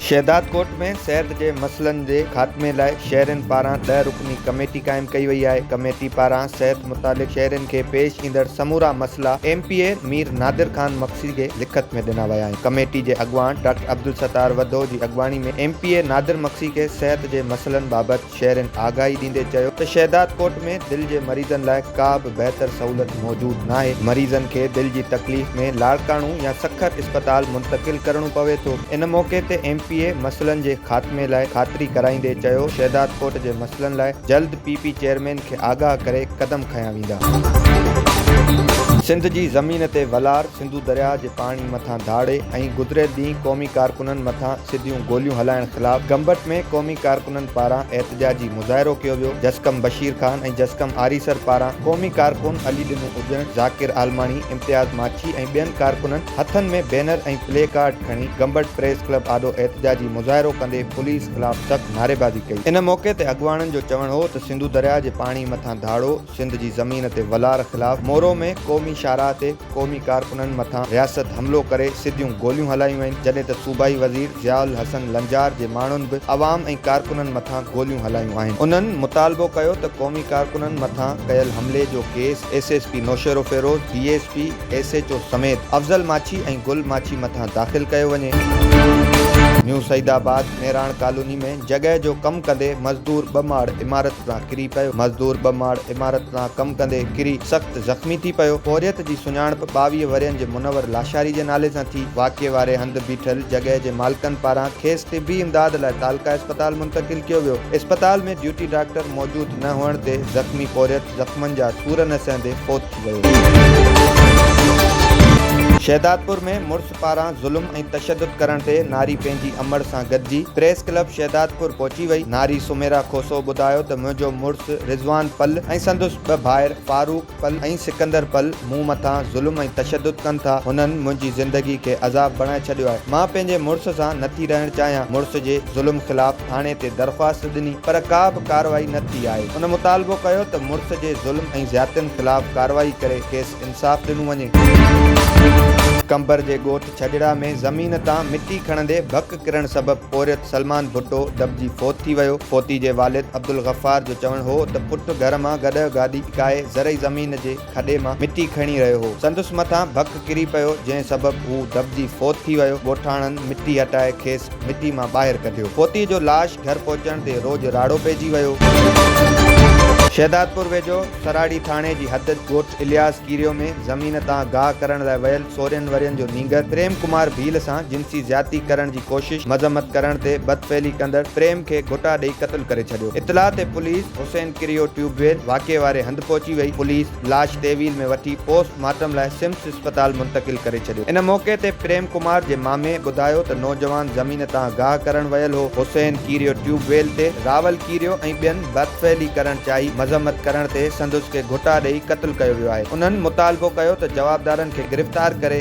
شهدادڪوٽ ۾ صحت جي مسئلن جي خاتمي لاء شهرين پاران ڏهه رڪني ڪميٽي قائم ڪئي وئي آهي ڪميٽي پاران صحت متعلق شهرين کي پيش ايندڙ سمورا مسئلا M P A Mir Nadir Khan Magsi کي لکت ۾ ڏنا ويا آهن ڪميٽي جي اڳواڻ ڊاڪٽر عبدالستار وڌو جي اڳواڻي ۾ M P A Nadir Magsi کي صحت جي مسئلن بابت شهرين آگاهي ڏيندي چيو ته شهدادڪوٽ ۾ دل جي مريضن لاء ڪا به بهتر سهولت موجود ناهي، مريضن کي دل جي تڪليف ۾ لاڙڪاڻو يا سکر اسپتال منتقل ڪرڻو پوي ٿو، ان موقعي تي ايم پي اي مسئلن جي خاتمي لاء خاطري ڪرائيندي چيو شهدادڪوٽ جي مسئلن لاء جلد پي پي چيئرمين کي آگاهه ڪري قدم کنيا ويندا. سنڌ جي زمين تي ولار. سنڌو درياهه جي پاڻي مٿان ڌاڙي ۽ گذريل ڏينهن قومي ڪارڪنن مٿان سڌيون گوليون هلائڻ خلاف گمبٽ ۾ قومي ڪارڪنن پاران احتجاجي مظاهرو ڪيو ويو جسقم بشير خان ۽ جسقم آريسر پاران قومي ڪارڪن علي ڏنو اجڻ، ذاڪر عالماڻي، امتياز ماڇي ۽ ٻين ڪارڪنن هٿن ۾ بينر ۽ پلي ڪارڊ کڻي گمبٽ پريس ڪلب آڏو احتجاجي مظاهرو ڪندي پوليس خلاف سخت نعريبازي ڪئي ان موقعي تي اڳواڻن جو چوڻ هو ته سنڌو درياهه جي پاڻي مٿان ڌاڙو، سنڌ جي زمين تي ولار خلاف مورو ۾ قومي شاهراهه تي قومي ڪارڪنن مٿان رياست حملو ڪري سڌيون گوليون هلايون وين جڏهن ته صوبائي وزير ضياء الحسن لنجار جي ماڻهن به عوام ۽ ڪارڪنن مٿان گوليون هلايون آهن انهن مطالبو ڪيو ته قومي ڪارڪنن مٿان ڪيل حملي جو case S S P Naushahro Feroze D S P S H O سميت افضل ماڇي ۽ گل ماڇي مٿان داخل ڪيو وڃي. نيو سعيدآباد ميراڻ ڪالوني ۾ جڳهه جو ڪم ڪندي مزدور ٻه ماڙ عمارت تان ڪري پيو، مزدور ٻه ماڙ عمارت تان ڪم ڪندي ڪري سخت زخمي ٿي پيو، پورهيت جي سڃاڻپ ٻاويهه ورهين جي منور لاشاري جي نالي سان ٿي، واقعي واري هنڌ بيٺل جڳهه جي مالڪن پاران کيس طبي امداد لاء تعلقه اسپتال منتقل ڪيو ويو، اسپتال ۾ ڊيوٽي ڊاڪٽر موجود نه هئڻ تي زخمي پورهيت زخمن جا سور نه سهندي فوت ٿي ويو. شهدادپور ۾ مڙس پاران ظلم ۽ تشدد ڪرڻ تي ناري پنهنجي امڙ سان گڏجي پريس ڪلب شهدادپور پهچي وئي. ناري سميرا کوسو ٻڌايو ته منهنجو مڙس رضوان پل ۽ سندس ٻه ڀائر فاروق پل ۽ سڪندر پل مون مٿان ظلم ۽ تشدد ڪن ٿا هنن منهنجي زندگي کي عذاب بڻائي ڇڏيو آهي مان پنهنجي مڙس سان نٿي رهڻ چاهيان مڙس جي ظلم خلاف ٿاڻي تي درخواست ڏني پر ڪا به ڪارروائي نه ٿي آهي ان مطالبو ڪيو ته مڙس جي ظلم ۽ زيادتين خلاف ڪارروائي ڪري کيس انصاف ڏنو وڃي. قمبر جي ڳوٺ ڇڄڙا ۾ زمين تان مٽي کڻندي ڀڪ ڪرڻ سبب پورهيت سلمان ڀٽو دٻجي فوت ٿي ويو. فوتي جي والد عبدالغفار جو چوڻ هو ته پٽ گهر مان گڏهه گاڏي اڪائي زرعي زمين جي کڏي مان مٽي کڻي رهيو هو. سندس مٿان ڀڪ ڪري پيو جنهن سبب هو دٻجي فوت ٿي ويو. ڳوٺاڻن مٽي هٽائي کيس مٽي مان ٻاهر ڪڍيو. پوتيء جو لاش گهر پهچڻ تي روڄ راڙو پئجي ويو. شهدادپور ويجهو سراڙي ٿاڻي جي حد ڳوٺ الياس ڪيريو ۾ زمين تان گاهه ڪرڻ لاء ويل سورهن ورهين جو نينگر پريم ڪمار ڀيل سان جنسي زيادتي ڪرڻ جي ڪوشش مذمت ڪرڻ تي بدفعلي ڪندڙ پريم کي گهوٽا ڏئي قتل ڪري ڇڏيو. اطلاع تي پوليس حسين ڪريو ٽيوب ويل واقعي واري هنڌ پهچي وئي. پوليس. لاش ٽي ويل ۾ وٺي پوسٽ مارٽم لاء سمس اسپتال منتقل ڪري ڇڏيو. ان موقعي تي پريم ڪمار جي مامي ٻڌايو ته نوجوان زمين تان گاهه ڪرڻ ويل هو، حسين ڪيريو ٽيوب ويل تي راول ڪيريو ۽ ٻين برف ڦهلي ڪرڻ چاهي مذمت ڪرڻ تي سندس کي گهٽا ڏئي قتل ڪيو ويو آهي، انهن مطالبو ڪيو ته جوابدارن کي گرفتار ڪري.